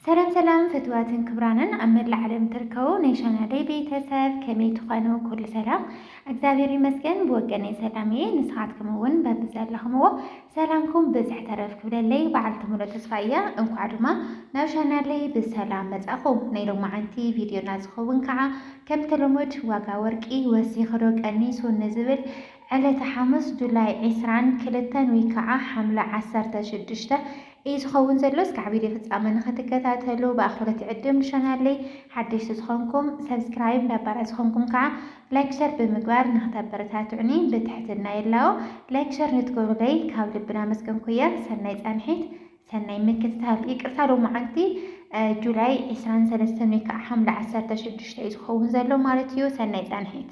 ሰላም ሰላም ፍትዋትን ክብራንን ኣብ መላእ ዓለም ትርከቡ ናይ ቻናለይ ቤተሰብ ከመይ ትኾኑ? ኩሉ ሰላም እግዚኣብሔር ይመስገን ብወገነይ ሰላም እየ። ንስኻትኩም እውን በብዘለኹምዎ ሰላምኩም ብዝሕ ተረፍ ክብለለይ በዓልቲ ሙሉእ ተስፋ እያ። እንኳዕ ድማ ናብ ቻናለይ ብሰላም መጻኹም። ናይ ሎማዓንቲ ቪድዮና ዝኸውን ከዓ ከምቲ ልሙድ ዋጋ ወርቂ ወሲኽዶ ቀኒሱ ንዝብል ዕለተ ሓሙስ ጁላይ ዕስራን ክልተን ውይ ከዓ ሓምለ ዓሰርተ ሽዱሽተ እዩ ዝኸውን ዘሎ እስካዕ ቪድዮ ፍፃመ ንክትከታተሉ ብኣኽብረት ይዕድም ንቻናለይ ሓደሽቲ ዝኾንኩም ሰብስክራይብ ነባራት ዝኾንኩም ከዓ ላይክ ሸር ብምግባር ንክተበረታትዑኒ ብትሕትና ይላቦ ላይክ ሸር ንትገብሩለይ ካብ ልብና መስገንኩ እየ ሰናይ ፃንሒት ሰናይ ምክትታል። ይቅርታ ዶ መዓልቲ ጁላይ ዕስራን ሰለስተን ወይ ከዓ ሓምለ ዓሰርተ ሽዱሽተ እዩ ዝኸውን ዘሎ ማለት እዩ። ሰናይ ፃንሒት።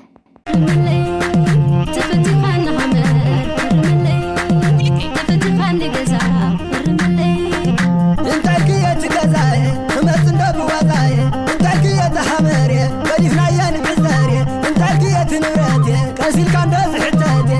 እንታይ ክየ ትገዛየ እመፅ እንዶ ብዋዛየ እንታይ ክየ ተሃመርየ ገዲፍናየ ንዕዘርየ እንታይ ክየ ትንብረትየ ቀሲልካ እንዶ ዝሕተትየ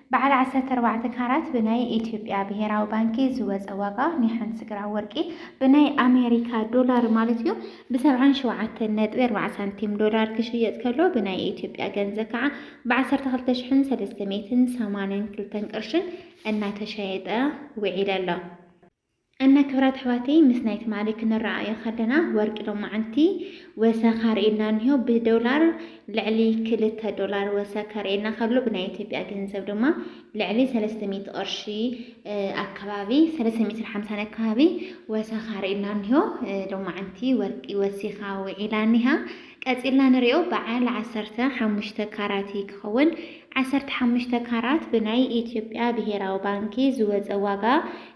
በዓል ዓሰርተ ኣርባዕተ ካራት ብናይ ኢትዮጵያ ብሄራዊ ባንኪ ዝወፀ ዋጋ ናይ ሓንቲ ግራም ወርቂ ብናይ ኣሜሪካ ዶላር ማለት እዩ ብሰብዓን ሸውዓተን ነጥቢ ኣርባዓ ሳንቲም ዶላር ክሽየጥ ከሎ ብናይ ኢትዮጵያ ገንዘብ ከዓ ብዓሰርተ ክልተ ሽሕን ሰለስተ ሚእትን ሰማንያን ክልተን ቅርሽን እናተሸየጠ ውዒለ ኣሎ። እና ክብራት ኣሕዋተይ ምስ ናይ ትማሊ ክንረኣኣዮ ከለና ወርቂ ሎማዓንቲ ወሰኽ ኣርእዩና እኒሆ ብዶላር ልዕሊ ክልተ ዶላር ወሰ ከርእየና ከሎ ብናይ ኢትዮጵያ ገንዘብ ድማ ልዕሊ ሰለስተ ሚእቲ ቅርሺ ኣከባቢ ሰለስተ ሚእትን ሓምሳን ኣከባቢ ወሰኽ ኣርእዩና እኒሆ ሎማዓንቲ ወርቂ ወሲኻ ውዒላ እኒሃ ቀጺልና ንሪኦ በዓል ዓሰርተ ሓሙሽተ ካራት እዪ ክኸውን። ዓሰርተ ሓሙሽተ ካራት ብናይ ኢትዮጵያ ብሄራዊ ባንኪ ዝወጸ ዋጋ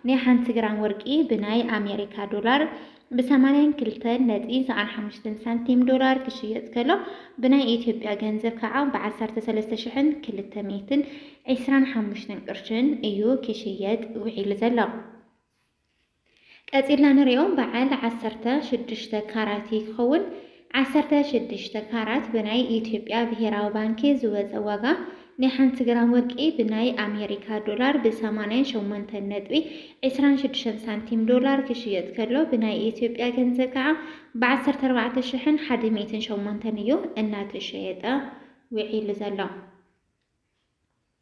ናይ ሓንቲ ግራም ወርቂ ብናይ ኣሜሪካ ዶላር ብ ሰማንያን ክልተን ነጥቢ ሰኣን ሓሙሽተን ሳንቲም ዶላር ክሽየጥ ከሎ ብናይ ኢትዮጵያ ገንዘብ ከዓ ብ ዓሰርተ ሰለስተ ሽሕን ክልተ ሚእትን ዒስራን ሓሙሽተን ቅርሽን እዩ ክሽየጥ ውዒሉ ዘሎ። ቀጺልና ንሪኦ በዓል ዓሰርተ ሽዱሽተ ካራት እዩ ክኸውን። ዓሰርተ ሽዱሽተ ካራት ብናይ ኢትዮጵያ ብሄራዊ ባንኪ ዝወጸ ዋጋ ናይ ሓንቲ ግራም ወርቂ ብናይ ኣሜሪካ ዶላር ብ ሰማንያን ሸሞንተን ነጥቢ ዕስራን ሽዱሽተን ሳንቲም ዶላር ክሽየጥ ከሎ ብናይ ኢትዮጵያ ገንዘብ ከዓ ብ ዓሰርተ ኣርባዕተ ሽሕን ሓደ ሚእትን ሸሞንተን እዩ እናተሸየጠ ውዒሉ ዘሎ።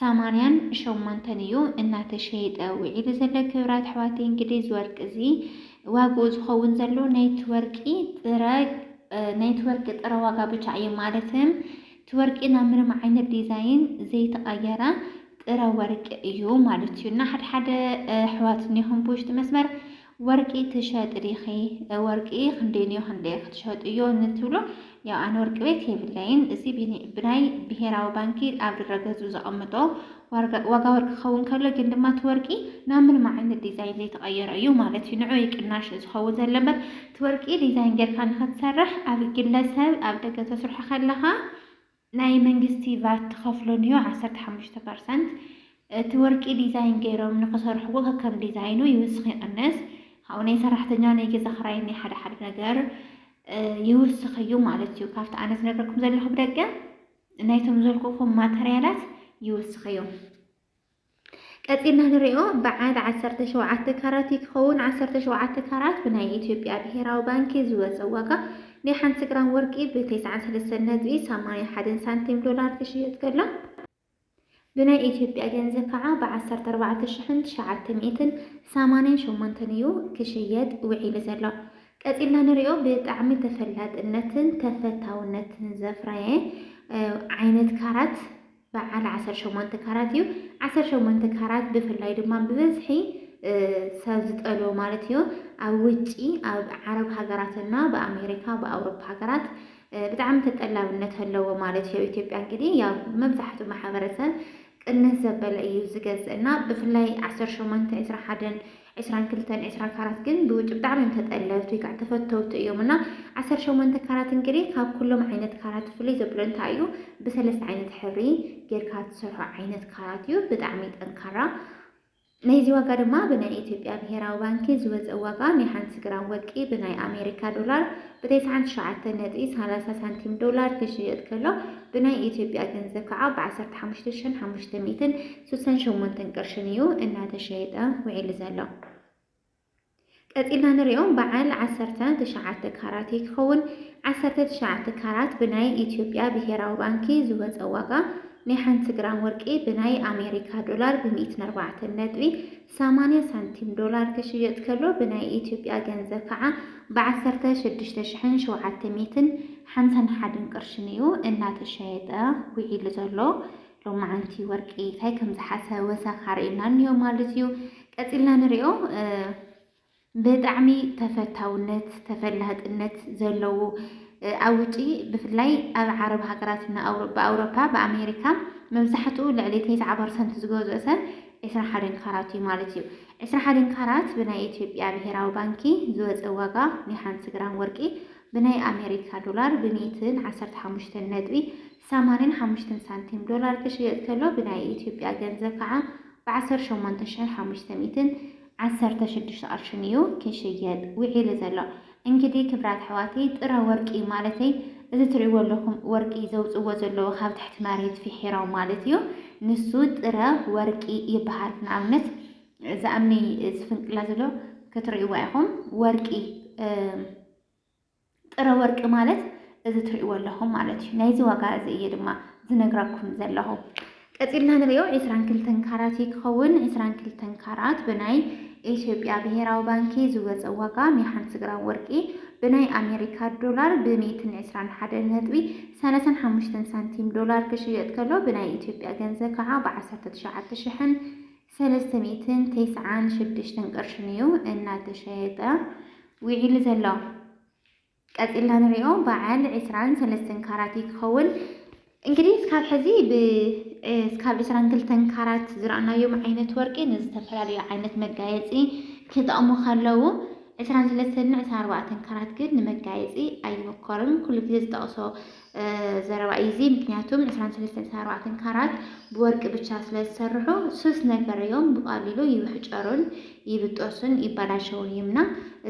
ሰማንያን ሸሞንተን እዩ እናተሸየጠ ውዒሉ ዘሎ። ክብራት ኣሕዋተይ እንግዲህ እዚ ወርቂ እዚ ዋግኡ ዝኸውን ዘሎ ናይቲ ወርቂ ጥረ ናይቲ ወርቂ ጥረ ዋጋ ብቻ እዩ ማለት እቲ ወርቂ ናብ ምንም ዓይነት ዲዛይን ዘይተቐየረ ጥረ ወርቂ እዩ ማለት እዩ እና ሓድሓደ ኣሕዋት እኒኹም ብውሽጢ መስመር ወርቂ ትሸጢ ዲኺ ወርቂ ክንደይንዮ ክንደይ ክትሸጥዮ ንትብሉ ያው ኣነ ወርቂ ቤት የብለይን እዚ ብናይ ብሄራዊ ባንኪ ኣብ ድረገዙ ዘቐምጦ ዋጋ ወርቂ ክኸውን ከሎ ግን ድማ እቲ ወርቂ ናብ ምንም ዓይነት ዲዛይን ዘይተቐየረ እዩ ማለት እዩ ንዑ ቅናሽ ዝኸውን ዘሎ እምበር እቲ ወርቂ ዲዛይን ጌርካ ንክትሰርሕ ኣብ ግለሰብ ኣብ ደገ ተስርሖ ከለኻ ናይ መንግስቲ ቫት ትኸፍሎን እዩ ዓሰርተ ሓሙሽተ ፐርሰንት። እቲ ወርቂ ዲዛይን ገይሮም ንክሰርሕዎ ከከም ዲዛይኑ ይውስኽ ይቕንስ። ካብኡ ናይ ሰራሕተኛ ናይ ገዛ ክራይን ናይ ሓደ ሓደ ነገር ይውስኽ እዩ ማለት እዩ። ካብቲ ኣነ ዝነገርኩም ዘለኹ ብደገ ናይቶም ዘልኩኹም ማተርያላት ይውስኽ እዩ። ቀጺልና ንሪኦ በዓል ዓሰርተ ሸውዓተ ካራት እዩ ክኸውን። ዓሰርተ ሸውዓተ ካራት ብናይ ኢትዮጵያ ብሄራዊ ባንኪ ዝወጸ ዋጋ ናይ ሓንቲ ግራም ወርቂ ብ ተስዓን ሰለስተን ነጥቢ ሰማንያ ሓደን ሳንቲም ዶላር ክሽየጥ ከሎ ብናይ ኢትዮጵያ ገንዘብ ከዓ ብ ዓሰርተ ኣርባዕተ ሽሕን ትሽዓተ ሚእትን ሰማንያን ሸሞንተን እዩ ክሽየጥ ውዒሉ ዘሎ። ቀጺልና ንሪኦ ብጣዕሚ ተፈላጥነትን ተፈታውነትን ዘፍረየ ዓይነት ካራት በዓል ዓሰርተ ሸሞንተ ካራት እዩ። ዓሰርተ ሸሞንተ ካራት ብፍላይ ድማ ብበዝሒ ሰብ ዝጠልቦ ማለት እዩ ኣብ ውጪ ኣብ ዓረብ ሃገራትና ብኣሜሪካ ብኣውሮፓ ሃገራት ብጣዕሚ ተጠላብነት ኣለዎ ማለት እዩ። ኢትዮጵያ እንግዲህ ያው መብዛሕቱ ማሕበረሰብ ቅንስ ዘበለ እዩ ዝገዝእ እና ብፍላይ ዓሰርተ ሸሞንተ ዕስራ ሓደን ዕስራን ክልተን ዕስራ ካራት ግን ብውጭ ብጣዕሚ እዮም ተጠለብቲ ወይ ከዓ ተፈተውቲ እዮም እና ዓሰርተ ሸሞንተ ካራት እንግዲህ ካብ ኩሎም ዓይነት ካራት ፍልይ ዘብሎ እንታይ እዩ ብሰለስተ ዓይነት ሕብሪ ጌርካ ትሰርሖ ዓይነት ካራት እዩ ብጣዕሚ ጠንካራ ናይዚ ዋጋ ድማ ብናይ ኢትዮጵያ ብሄራዊ ባንኪ ዝወፀ ዋጋ ናይ ሓንቲ ግራም ወርቂ ብናይ ኣሜሪካ ዶላር ብተስዓን ትሽዓተ ነጥቢ ሰላሳ ሳንቲም ዶላር ክሽየጥ ከሎ ብናይ ኢትዮጵያ ገንዘብ ከዓ ብዓሰርተ ሓሙሽተ ሽሕን ሓሙሽተ ሚእትን ስሳን ሸሞንተን ቅርሽን እዩ እናተሸየጠ ውዒሉ ዘሎ። ቀጺልና ንሪኦ በዓል ዓሰርተ ትሽዓተ ካራት እዩ ክኸውን። ዓሰርተ ትሽዓተ ካራት ብናይ ኢትዮጵያ ብሄራዊ ባንኪ ዝወፀ ዋጋ ናይ ሓንቲ ግራም ወርቂ ብናይ ኣሜሪካ ዶላር ብሚእትን ኣርባዕተን ነጥቢ ሰማንያ ሳንቲም ዶላር ክሽየጥ ከሎ ብናይ ኢትዮጵያ ገንዘብ ከዓ ብዓሰርተ ሽዱሽተ ሽሕን ሸውዓተ ሚእትን ሓምሳን ሓደን ቅርሽን እዩ እናተሸየጠ ውዒሉ ዘሎ። ሎማዓንቲ ወርቂ ታይ ከምዝሓሰ ወሰኽ ኣርእዩና እኒኦ ማለት እዩ። ቀፂልና ንሪኦ ብጣዕሚ ተፈታውነት ተፈላጥነት ዘለዎ ኣብ ውጪ ብፍላይ ኣብ ዓረብ ሃገራት ብኣውሮፓ ብኣሜሪካ መብዛሕትኡ ልዕሊ ተስዓ ፐርሰንት ዝገዝኦ ሰብ ዕስራ ሓደን ካራት እዩ ማለት እዩ። ዕስራ ሓደን ካራት ብናይ ኢትዮጵያ ብሄራዊ ባንኪ ዝወፀ ዋጋ ናይ ሓንቲ ግራም ወርቂ ብናይ ኣሜሪካ ዶላር ብሚእትን ዓሰርተ ሓሙሽተን ነጥቢ ሰማንያን ሓሙሽተን ሳንቲም ዶላር ክሽየጥ ከሎ ብናይ ኢትዮጵያ ገንዘብ ከዓ ብዓሰርተ ሸሞንተ ሽሕን ሓሙሽተ ሚእትን ዓሰርተ ሽዱሽተ ቅርሽን እዩ ክሽየጥ ውዒሉ ዘሎ። እንግዲህ ክብራት ኣሕዋተይ ጥረ ወርቂ ማለተይ እዚ ትሪእዎ ኣለኹም ወርቂ ዘውፅዎ ዘለዉ ካብ ትሕቲ መሬት ፊሒሮም ማለት እዩ ንሱ ጥረ ወርቂ ይበሃል። ንኣብነት እዚ ኣምኒ ዝፍንቅላ ዘሎ ክትሪእዋ ኢኹም ወርቂ ጥረ ወርቂ ማለት እዚ ትሪእዎ ኣለኹም ማለት እዩ። ናይዚ ዋጋ እዚ እየ ድማ ዝነግራኩም ዘለኹ። ቀፂልና ንሪኦ ዕስራን ክልተን ካራት እዩ ክኸውን። ዕስራን ክልተን ካራት ብናይ ኢትዮጵያ ብሄራዊ ባንኪ ዝወፀ ዋጋ ናይ ሓንቲ ግራም ወርቂ ብናይ ኣሜሪካ ዶላር ብሜትን ዕስራን ሓደን ነጥቢ ሰላሳን ሓሙሽተን ሳንቲም ዶላር ክሽየጥ ከሎ ብናይ ኢትዮጵያ ገንዘብ ከዓ ብዓሰርተ ትሽዓተ ሽሕን ሰለስተ ሚእትን ተስዓን ሽዱሽተን ቅርሽን እዩ እናተሸየጠ ውዒሉ ዘሎ። ቀፂልና ንሪኦ በዓል ዕስራን ሰለስተን ካራት እዩ ክኸውን። እንግዲህ እስካብ ሕዚ እስካብ ዕስራን ክልተን ካራት ዝረኣናዮም ዓይነት ወርቂ ንዝተፈላለዩ ዓይነት መጋየፂ ክጠቕሙ ከለዉ ዕስራን ሰለስተን ዕስራን ኣርባዕተን ካራት ግን ንመጋየፂ ኣይምኮርን። ኩሉ ግዜ ዝጠቕሶ ዘረባ እዩ እዚ ምክንያቱም 23-24 ካራት ብወርቂ ብቻ ስለ ዝሰርሑ ሱስ ነገር እዮም ብቃሊሉ ይብሕጨሩን ይብጠሱን ይበላሸውን እዮም እና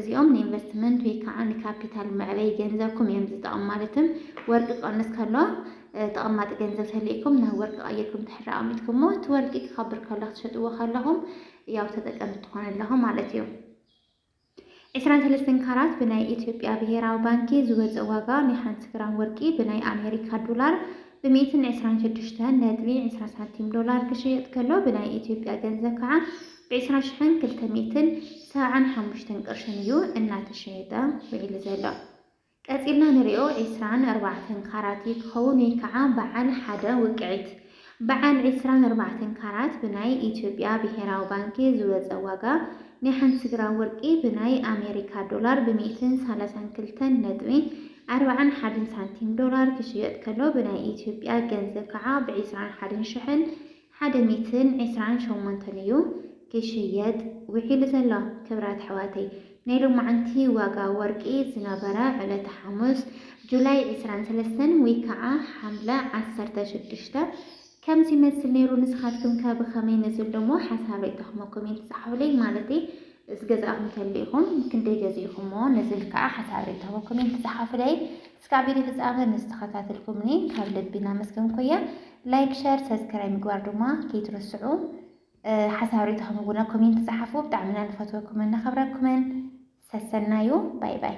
እዚኦም ንኢንቨስትመንት ወይ ከዓ ንካፒታል መዕበይ ገንዘብኩም እዮም ዝጠቕሙ ማለትም ወርቂ ቀንስ ከሎ ተቐማጢ ገንዘብ ተልእኩም ናብ ወርቂ ቀይርኩም ትሕሪ ኣቕሚጥኩሞ እቲ ወርቂ ክኸብር ከሎ ክትሸጥዎ ከለኹም ያው ተጠቀምቲ ትኾኑ ኣለኹም ማለት እዩ ዕስራን ሰለስተን ካራት ብናይ ኢትዮጵያ ብሄራዊ ባንኪ ዝወፀ ዋጋ ናይ ሓንቲ ግራም ወርቂ ብናይ ኣሜሪካ ዶላር ብ ሚእትን ዕስራን ሽዱሽተን ነጥቢ ዕስራ ሳንቲም ዶላር ክሽየጥ ከሎ ብናይ ኢትዮጵያ ገንዘብ ከዓ ብ ዕስራ ሽሕን ክልተ ሚእትን ሰብዓን ሓሙሽተን ቅርሽን እዩ እናተሸየጠ ውዒሉ ዘሎ። ቀጺልና ንሪኦ ዕስራን ኣርባዕተን ካራት እዩ ክኸውን ወይ ከዓ በዓል ሓደ ውቅዒት። በዓል ዕስራን ኣርባዕተን ካራት ብናይ ኢትዮጵያ ብሄራዊ ባንኪ ዝወፀ ዋጋ ናይ ሓንቲ ግራም ወርቂ ብናይ ኣሜሪካ ዶላር ብሚእትን ሰላሳን ክልተን ነጥቢ ኣርባዓን ሓደን ሳንቲም ዶላር ክሽየጥ ከሎ ብናይ ኢትዮጵያ ገንዘብ ከዓ ብዕስራን ሓደን ሽሕን ሓደ ሚትን ዕስራን ሸሞንተን እዩ ክሽየጥ ውዒሉ ዘሎ። ክብራት ኣሕዋተይ ናይ ሎማዓንቲ ዋጋ ወርቂ ዝነበረ ዕለተ ሓሙስ ጁላይ ዕስራን ሰለስተን ወይ ካዓ ሓምለ ዓሰርተ ሽዱሽተ ከምዚ ይመስል ነይሩ ንስኻትኩም ከ ብኸመይ ነዚ ሎሞ ሓሳብ ሪኢቶኹም ኮሜንት ፃሓፉለይ ማለተይ ዝገዛእኹም ተሊኢኹም ክንደይ ገዚእኹሞ ነዚ ካዓ ሓሳብ ሪኢቶኹም ኮሜንት ፃሓፉለይ እስካዕ ቪድዮ ፍጻመ ምስ ተኸታተልኩምኒ ካብ ልቢ እናመስገንኩያ ላይክ ሸር ሰብስክራይብ ምግባር ድማ ከይትርስዑ ሓሳብ ርእይቶኹም እውን ኣብ ኮሜንት ጸሓፉ ብጣዕሚ ኢና ንፈትወኩምን ነኸብረኩምን ሰሰናዩ ባይ ባይ